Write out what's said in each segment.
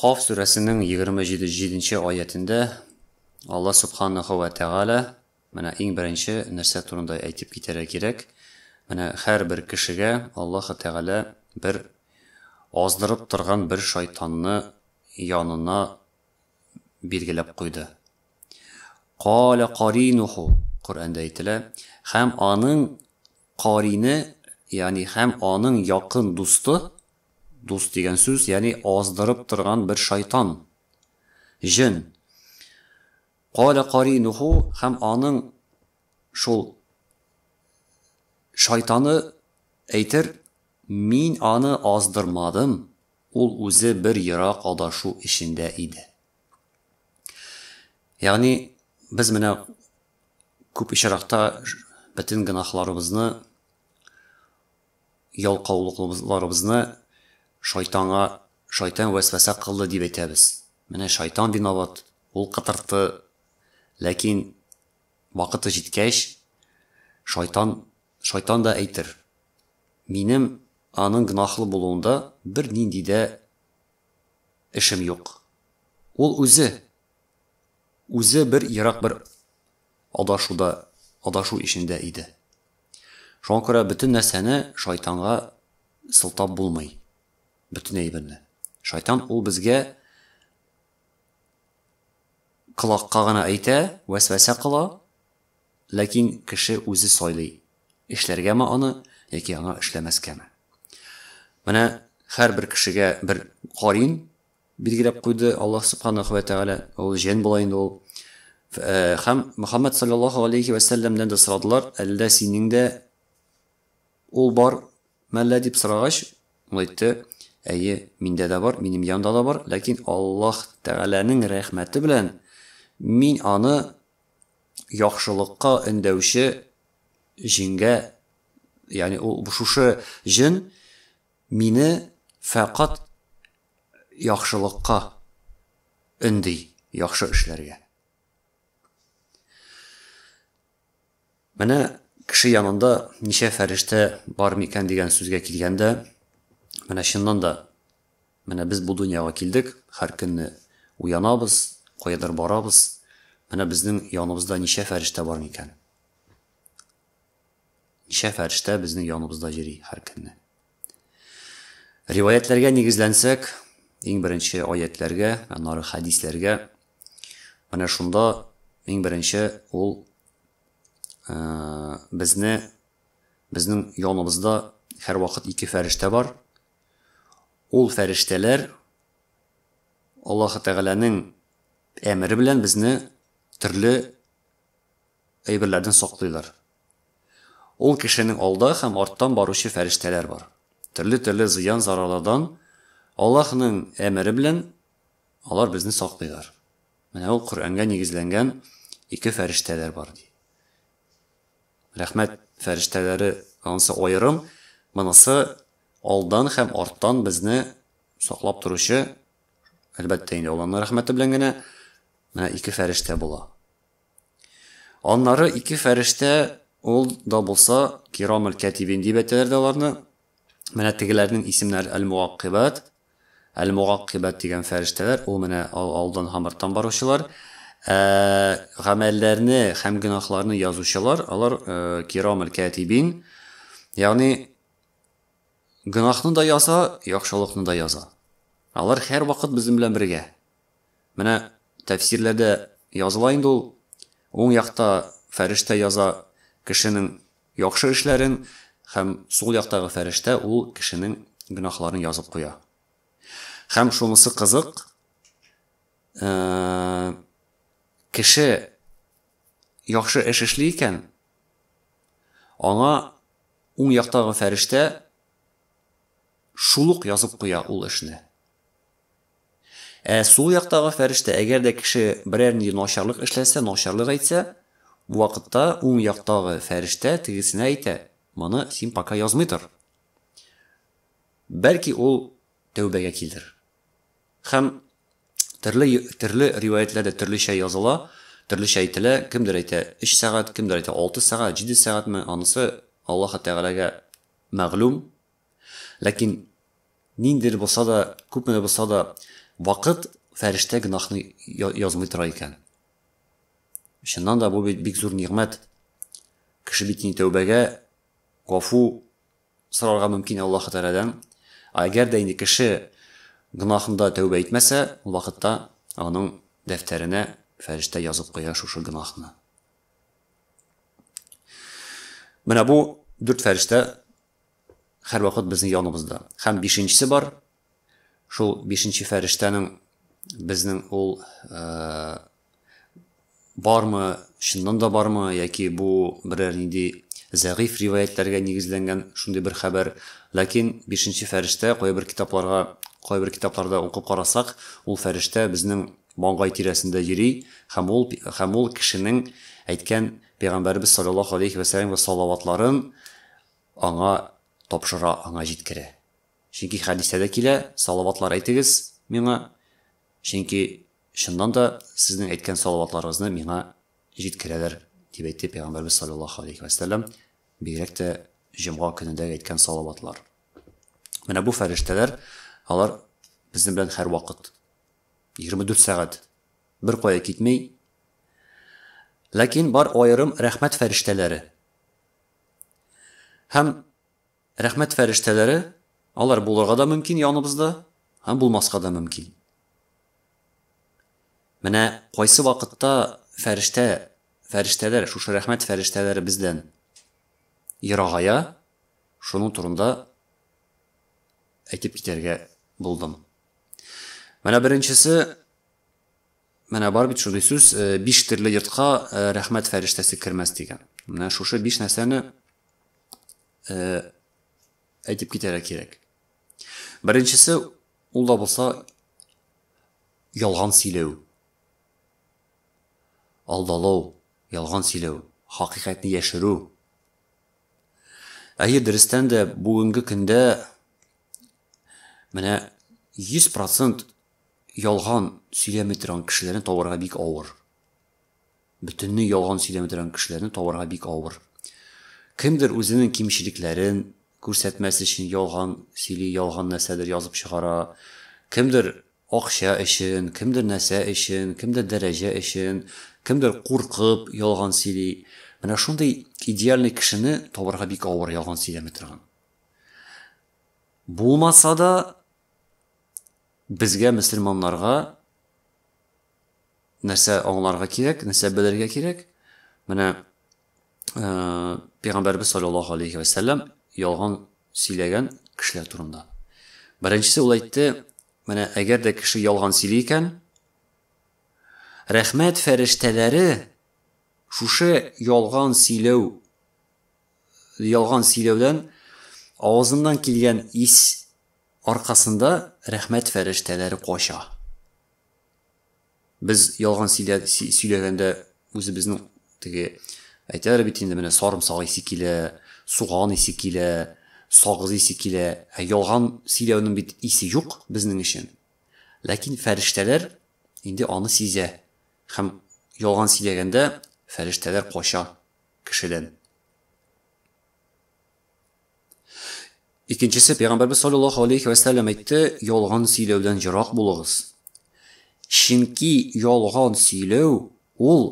Каф сүрәсенең егерме җиденче аятендә Алла Сүбханаһу вә Тәгалә, менә иң беренче нәрсә турында әйтеп китәргә кирәк, менә һәрбер кешегә Аллаһы Тәгалә бер аздырып торган бер шайтанны янына билгеләп куйды. Каля каринуху, Коръәндә әйтелә, һәм аның карине, ягъни һәм аның якын дусты, Дус дигән сүз, ягъни аздырып торган бер шайтан, җен. Каля каринуху һәм аның шул шайтаны әйтер, Мин аны аздырмадым, ул үзе бер ерак адашу эчендә иде. Ягъни без менә күп очракта бөтен гөнаһларыбызны Ялкаулыкларыбызны шайтанга шайтан вәсвәсә кылды дип әйтәбез. Менә шайтан виноват, ул кытыртты. Ләкин вакыты җиткәч, шайтан, шайтан да әйтер. Минем аның гөнаһлы булуында бернинди дә эшем юк. Ул үзе! Үзе бер ерак бер адашуда, адашу эчендә иде. Шуңа күрә бөтен нәрсәне шайтанга сылтап булмый. Бөтен әйберне. Шайтан ул безгә колакка гына әйтә, вәсвәсә кыла, ләкин кеше үзе сайлый, эшләргәме аны яки аңа эшләмәскәме. Менә һәрбер кешегә бер карин Билгеләп куйды, Аллаһ Субханаһу вә Тәгалә, ул җен була инде ул. Һәм Мөхәммәд салләллаһу галәйһи вә сәлләмнән дә сорадылар, Әллә синең дә ул бар мәллә? дип сорагач, ул әйтте, Әйе, миндә дә бар, минем янда да бар, ләкин Аллаһ Тәгаләнең рәхмәте белән мин аны яхшылыкка өндәүче җенгә, ягъни ул шушы җен, Мине фәкать яхшылыкка өнди, яхшы эшләргә. Менә кеше янында ничә фәрештә бар микән дигән сүзгә килгәндә, менә чыннан да, менә без бу дөньяга килдек, һәр көнне уянабыз, каядыр барабыз, менә безнең яныбызда ничә фәрештә бар микән? Ничә фәрештә безнең яныбызда йөри һәр көнне? Риваятьләргә нигезләнсәк, иң беренче аятьләргә, аннары хәдисләргә, менә шунда иң беренче ул безне безнең яныбызда һәрвакыт ике фәрештә бар. Ул фәрештәләр Аллаһы Тәгаләнең әмере белән безне төрле Әйберләрдән саклыйлар. Ул кешенең алда һәм арттан баручы фәрештәләр бар. Төрле-төрле зыян-зарарлардан Аллаһның әмере белән алар безне саклыйлар. Менә ул Коръәнгә нигезләнгән ике фәрештәләр бар, ди. Рәхмәт фәрештәләре, анысы аерым, монысы алдан һәм арттан безне саклап торучы Әлбәттә инде, ул Алланың рәхмәте белән генә менә ике фәрештә була. Аннары ике фәрештә ул да булса кирамул кәтибин дип әйтәләр дә аларны. Менә тегеләрнең исемнәре әл-мугаккибат. Әл-мугаккибат дигән фәрештәләр, ул менә алдан һәм арттан баручылар. Ә гамәлләрне һәм гөнаһларны язучылар, алар кирамул кәтибин. Ягъни Гөнаһны да яза, яхшылыкны да яза. Алар һәрвакыт безнең белән бергә. Менә тәфсирләрдә языла инде ул, уң якта фәрештә яза кешенең яхшы эшләрен һәм сул яктагы фәрештә ул кешенең гөнаһларын язып куя. Һәм шунысы кызык, кеше яхшы эш эшли икән, аңа Уң яктагы фәрештә шул ук язып куя ул эшне. Ә сул яктагы фәрештә, әгәр дә кеше берәр нинди начарлык эшләсә, начарлык әйтсә, бу вакытта уң яктагы фәрештә тегесенә әйтә, Моны син пока язмый тор. Бәлки ул тәүбәгә килер. Һәм төрле төрле риваятьләрдә төрлечә языла, төрлечә әйтелә, кемдер әйтә, өч сәгать, кемдер әйтә, алты сәгать, җиде сәгатьме, анысы Аллаһы Тәгаләгә мәгълүм. Ләкин ниндидер булса да, күпме дә булса да, вакыт фәрештә гөнаһны язмый тора икән. Чыннан да бу бик зур нигъмәт. Кеше бит инде тәүбәгә, гафу, сорарга мөмкин Аллаһы Тәгаләдән. Ә әгәр дә инде кеше гөнаһында тәүбә итмәсә, ул вакытта аның дәфтәренә фәрештә язып куя шушы гөнаһны. Менә бу дүрт фәрештә һәрвакыт безнең яныбызда. Һәм бишенчесе бар, Шул бишенче фәрештәнең безнең ул бармы, чыннан да бармы, яки бу берәр нинди зәгыйфь риваятьләргә нигезләнгән шундый бер хәбәр. Ләкин бишенче фәрештә кайбер китапларга, кайбер китапларда укып карасак, ул фәрештә безнең маңгай тирәсендә йөри һәм ул һәм ул кешенең әйткән пәйгамбәребез салләллаһу алейһи вә сәлләмгә салаватларын аңа тапшыра, аңа җиткерә. Чөнки хәдистә дә килә, салаватлар әйтегез миңа, чөнки чыннан да сезнең әйткән салаватларыгызны миңа җиткерәләр, дип әйтте Пәйгамбәрбез салләллаһу алейһи вә сәлләм, бигрәк тә җомга көнендә әйткән салаватлар. Менә бу фәрештәләр, алар безнең белән һәрвакыт, 24 сәгать, беркая китми. Ләкин бар аерым рәхмәт фәрештәләре. Һәм Рәхмәт фәрештәләре, алар булырга да мөмкин яныбызда һәм булмаска да мөмкин. Менә кайсы вакытта фәрештә, фәрештәләр, шушы рәхмәт фәрештәләре бездән ерагая, шуның турында әйтеп китәргә булдым. Менә беренчесе Менә бар бит шундый сүз, биш терле йортка рәхмәт фәрештәсе кермәс дигән. Менә шушы биш нәрсәне әйтеп китәргә кирәк. Беренчесе, ул да булса ялган сөйләү. Алдалау, ялган сөйләү, хакыйкатьне яшерү. Әйе, дөрестән дә бүгенге көндә менә 100% Ялган сөйләми торган кешеләрне табарга бик авыр. Бөтенләй ялган сөйләми торган кешеләрне табарга бик авыр. Кемдер үзенең кимчелекләрен күрсәтмәс өчен ялган сөйли, ялган нәрсәдер язып чыгара. Кемдер акча өчен, кемдер нәрсә өчен, кемдер дәрәҗә өчен, кемдер куркып ялган сөйли. Менә шундый идеальный кешене табарга бик авыр ялган сөйләми торган. Булмаса да, Безгә мөселманнарга нәрсә аңларга кирәк, нәрсә белергә кирәк? Менә э, Пәйгамбәрбез саллаллаһу алейхи ва саллям ялган сөйләгән кешеләр турында. Беренчесе ул әйтте, менә әгәр дә кеше ялган сөйли икән, рәхмәт фәрештәләре шушы ялган сөйләү ялган сөйләүдән авызыннан килгән ис Аркасында рәхмәт фәрештәләре кача. Без ялган сөйләгәндә үзебезнең теге әйтәләр бит инде менә сарымсак исе килә, суган исе килә, сагыз исе килә. Ә ялган сөйләүнең бит исе юк безнең өчен. Ләкин фәрештәләр инде аны сизә һәм ялган сөйләгәндә фәрештәләр кача кешедән. Икенчесе, Пәйгамбәрбез саллаллаһу алейхи вә сәлләм әйтте, ялган сөйләүдән ерак булыгыз. Чөнки ялган сөйләү ул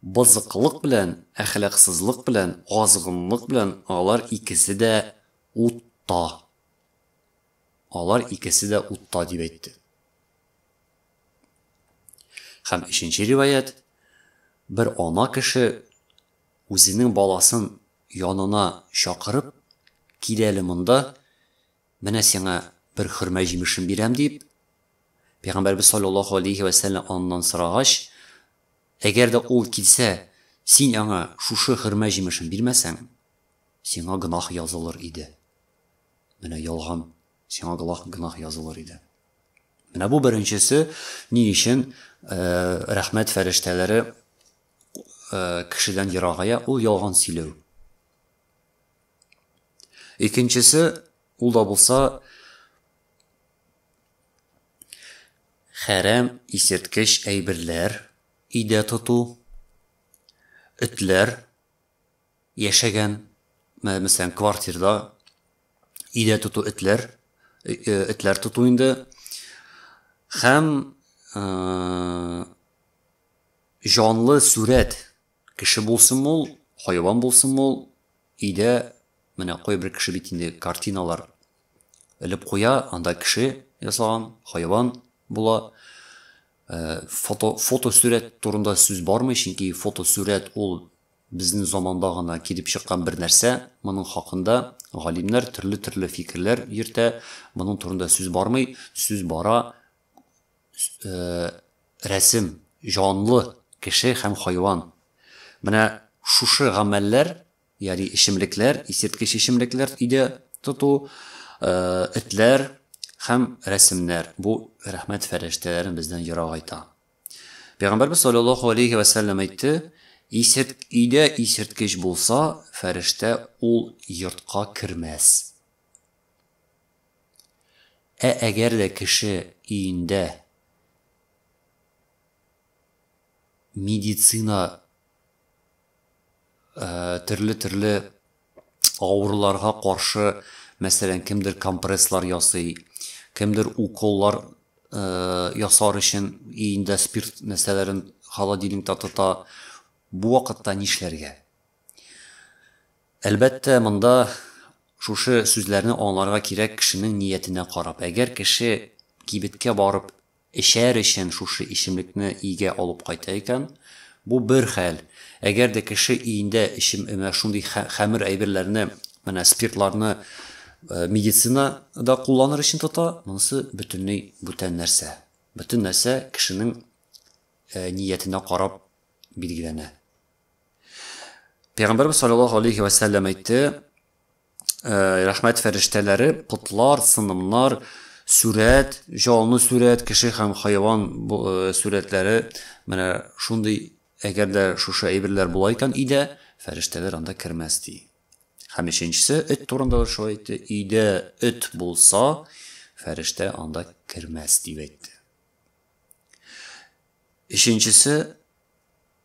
бозыклык белән, әхлаксызлык белән, азгынлык белән алар икесе дә утта. Алар икесе дә утта дип әйтте. Хәм өченче риваят, бер ана кеше Үзенең баласын янына чакырып, Кил әле монда, менә сиңа бер хөрмә җимешен бирәм, дип, пәйгамбәребез салләллаһу алейһи вә сәлләм аннан сорагач, Әгәр дә ул килсә, син аңа шушы хөрмә җимешен бирмәсәң, сиңа гөнаһ язылыр иде. Менә ялган, сиңа гылах гөнаһ язылыр иде. Менә бу беренчесе, ни өчен рәхмәт фәрештәләре кешедән ерагая, ул ялган сөйләү. Икенчесе, ул да булса хәрәм исерткеч әйберләр өйдә тоту, этләр яшәгән, мәсәлән, квартирда өйдә тоту этләр, э, э, этләр тоту инде. Һәм э, Җанлы сурәт, кеше булсынмы ул, хайван булсынмы ул, өйдә менә кайбер кеше бит инде картиналар элеп куя, анда кеше ясаган, хайван була. Фото, фотосурәт турында сүз бармый, чөнки фотосурәт ул безнең заманда гына килеп чыккан бер нәрсә. Моның хакында галимнәр төрле-төрле фикерләр йөртә, моның турында сүз бармый. Сүз бара э, рәсем, җанлы кеше һәм хайван. Менә шушы гамәлләр, яри эчемлекләр, исерткеч эчемлекләр иде тоту, э, этләр һәм рәсемнәр. Бу рәхмәт фәрештәләрен бездән ерак айта. Пәйгамбәрбез саллаллаһу алейхи ва саллям әйтте, исерт өйдә исерткеч булса, фәрештә ул йортка кермәс. Ә әгәр дә кеше өендә медицина төрле-төрле авыруларга каршы, мәсәлән, кемдер компресслар ясый, кемдер уколлар ясар өчен өендә спирт нәрсәләрен холодильникта тота, бу вакытта нишләргә? Әлбәттә, монда шушы сүзләрне аңларга кирәк кешенең ниятенә карап. Әгәр кеше кибеткә барып эчәр өчен шушы эчемлекне өйгә алып кайта икән, бу бер хәл. Әгәр дә кеше өендә эчем эмә шундый хәмер әйберләрне, менә спиртларны медицинада кулланыр өчен тота, монысы бөтенләй бүтән нәрсә. Бөтен нәрсә кешенең ниятенә карап билгеләнә. Пәйгамбәрбез саллаллаһу алейхи вә сәлләм әйтте, Э, рәхмәт фәрештәләре потлар сынымнар сүрәт җанлы сүрәт кеше һәм хайван э, сүрәтләре менә шундый әгәр дә шушы әйберләр була икән өйдә фәрештәләр анда кермәс ди һәм өченчесе эт турында да шулай әйтте өйдә эт булса фәрештә анда кермәс дип әйтте өченчесе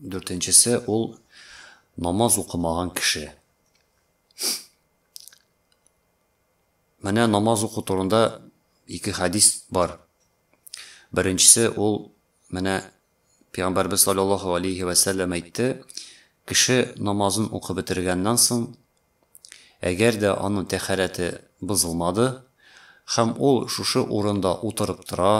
Дүртенчесе, ул намаз укымаган кеше. Менә намаз уку турында ике хәдис бар. Беренчесе, ул менә Пәйгамбәрбез саллаллаһу алейхи вә сәлләм әйтте, кеше намазын укып бетергәннән соң, Әгәр дә аның тәһарәте бозылмады һәм ул шушы урында утырып тора,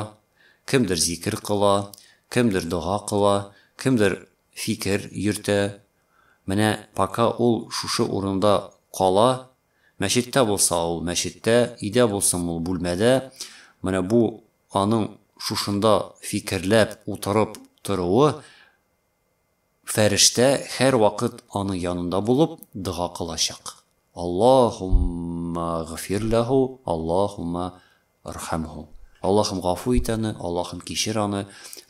кемдер зикер кыла, кемдер дога кыла, кемдер фикер йөртә, менә пока ул шушы урында кала, мәчеттә булса ул мәчеттә, өйдә булсын ул бүлмәдә, менә бу аның шушында фикерләп утырып торуы Фәрештә һәрвакыт аны янында булып дога кылачак. Аллаһумма гфир ләһу, Аллаһумма рхәмһу. Аллаһым гафу ит аны, Аллаһым кичер аны,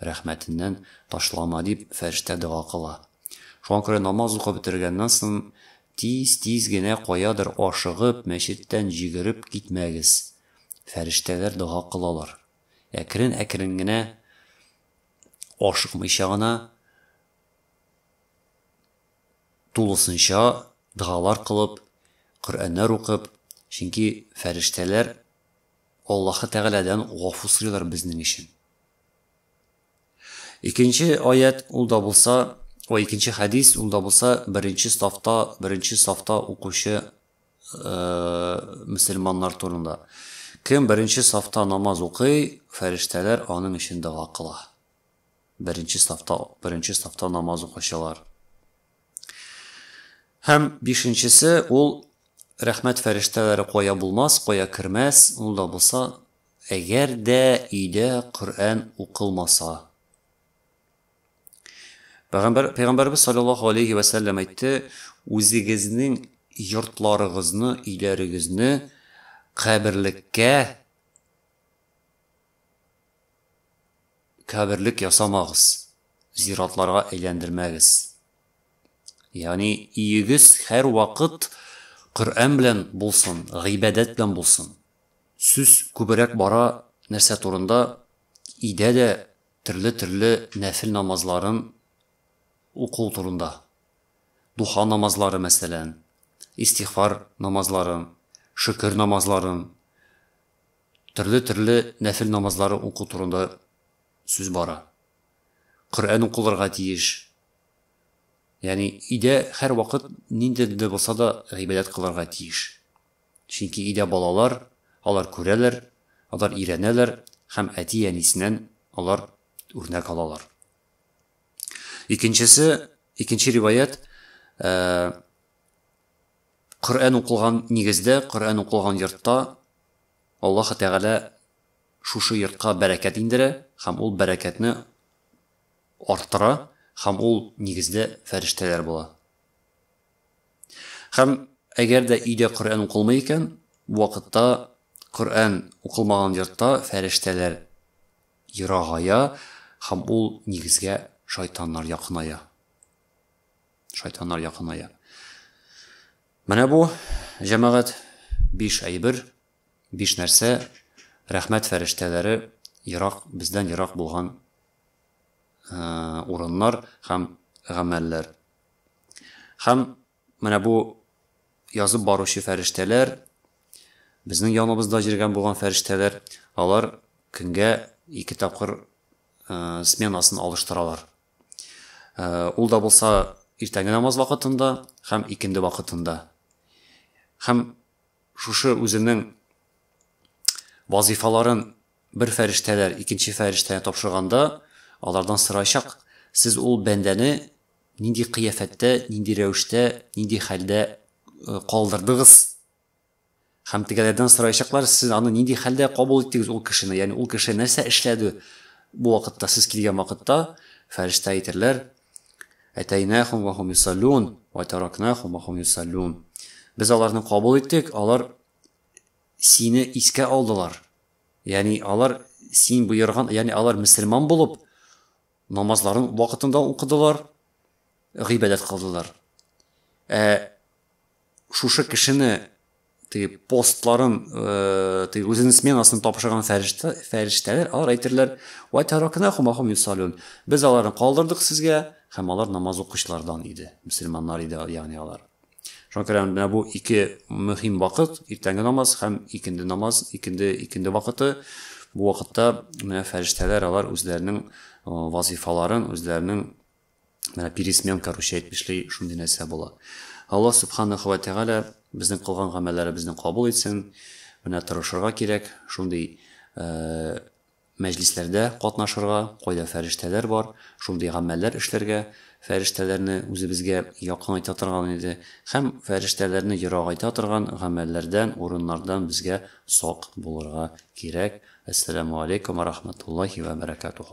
рәхмәтеннән ташлама, дип фәрештә дога кыла. Шуңа күрә намаз укып бетергәннән соң тиз-тиз генә каядыр ашыгып, мәчеттән җигереп китмәгез. Фәрештәләр дога кылалар. Әкрен-әкрен генә ашыкмыйча гына тулысынча догалар кылып, Коръәннәр укып, чөнки фәрештәләр Аллаһы Тәгаләдән гафу сорыйлар безнең өчен. Икенче аять ул да булса, ой, икенче хәдис ул да булса, беренче сафта, беренче сафта укучы мөселманнар турында. Кем беренче сафта намаз укый, фәрештәләр аның өчен дога кыла. Беренче сафта, беренче сафта намаз укучылар. Һәм бишенчесе ул рәхмәт фәрештәләре кая булмас, кая кермәс, ул да булса, әгәр дә өйдә Коръән укылмаса. Пәйгамбәр, Пәйгамбәребез салләллаһу галәйһи вә сәлләм әйтте, Үзегезнең йортларыгызны, өйләрегезне каберлеккә каберлек ясамагыз, зиратларга әйләндермәгез. Ягъни, өегез һәрвакыт Коръән белән булсын, гыйбадәт белән булсын. Сүз күбрәк бара нәрсә турында? Өйдә дә Төрле-төрле нәфел намазларын уку турында. Духа намазлары, мәсәлән, истигъфар намазларын, шөкер намазларын, төрле-төрле нәфел намазлары уку турында сүз бара. Коръән укылырга тиеш. Ягъни өйдә һәрвакыт ниндидер булса да гыйбадәт кылырга тиеш. Чөнки өйдә балалар, алар күрәләр, алар өйрәнәләр һәм әти-әнисеннән алар үрнәк алалар. Икенчесе, икенче риваять, ә, Коръән укылган нигездә, Коръән укылган йортта Аллаһы Тәгалә шушы йортка бәрәкәт индерә һәм ул бәрәкәтне арттыра һәм ул нигездә фәрештәләр була. Һәм әгәр дә өйдә Коръән укылмый икән, бу вакытта Коръән укылмаган йортта фәрештәләр ерагая һәм ул нигезгә шайтаннар якыная. Шайтаннар якыная. Менә бу җәмәгать биш әйбер, биш нәрсә рәхмәт фәрештәләре ерак бездән ерак булган урыннар һәм гамәлләр. Һәм менә бу язып баручы фәрештәләр, безнең яныбызда җиргән булган фәрештәләр, алар көнгә ике тапкыр сменасын алыштыралар. Ул да булса иртәнге намаз вакытында һәм икенде вакытында. Һәм шушы үзенең вазифаларын Бер фәрештәләр икенче фәрештәне тапшырганда, алардан сорачак, Сез ул бәндәне нинди кыяфәттә, нинди рәвештә, нинди хәлдә калдырдыгыз? Һәм тегеләрдән сорачаклар, Сез аны нинди хәлдә кабул иттегез, ул кешене? Ягъни ул кеше нәрсә эшләде бу вакытта, сез килгән вакытта? Фәрештә әйтерләр, Әтәйнәхум вә хум юсаллун, вә таракнахум вә хум юсаллун. Без аларны кабул иттек, алар сине искә алдылар. Ягъни алар син боерган, ягъни алар мөселман булып, намазларын вакытында укыдылар, гыйбадәт кылдылар. Ә шушы кешене теге постларын, э, теге үзенең сменасын тапшырган фәрештә, фәрештәләр алар әйтерләр, "Ва таракна хумахум юсалун". Без аларны калдырдык сезгә, һәм алар намаз укучылардан иде, мөселманнар иде, ягъни алар. Шуңа күрә менә бу ике мөһим вакыт, иртәнге намаз һәм икенде намаз, икенде, икенде вакыты. Бу вакытта менә фәрештәләр алар үзләренең вазифаларын, үзләренең менә пересмен, короче, әйтеп эшли, шундый нәрсә була. Аллаһ субханаһу ва тәгалә безнең кылган гамәлләребезне кабул итсен. Менә тырышырга кирәк, шундый Мәҗлисләрдә катнашырга, кайда фәрештәләр бар, шундый гамәлләр эшләргә, фәрештәләрне үзебезгә якынайта торган иде һәм фәрештәләрне ерагайта торган гамәлләрдән, урыннардан безгә сак булырга кирәк. Әссәламү алейкүм вә рахмәтуллаһи вә бәрәкәтүһү.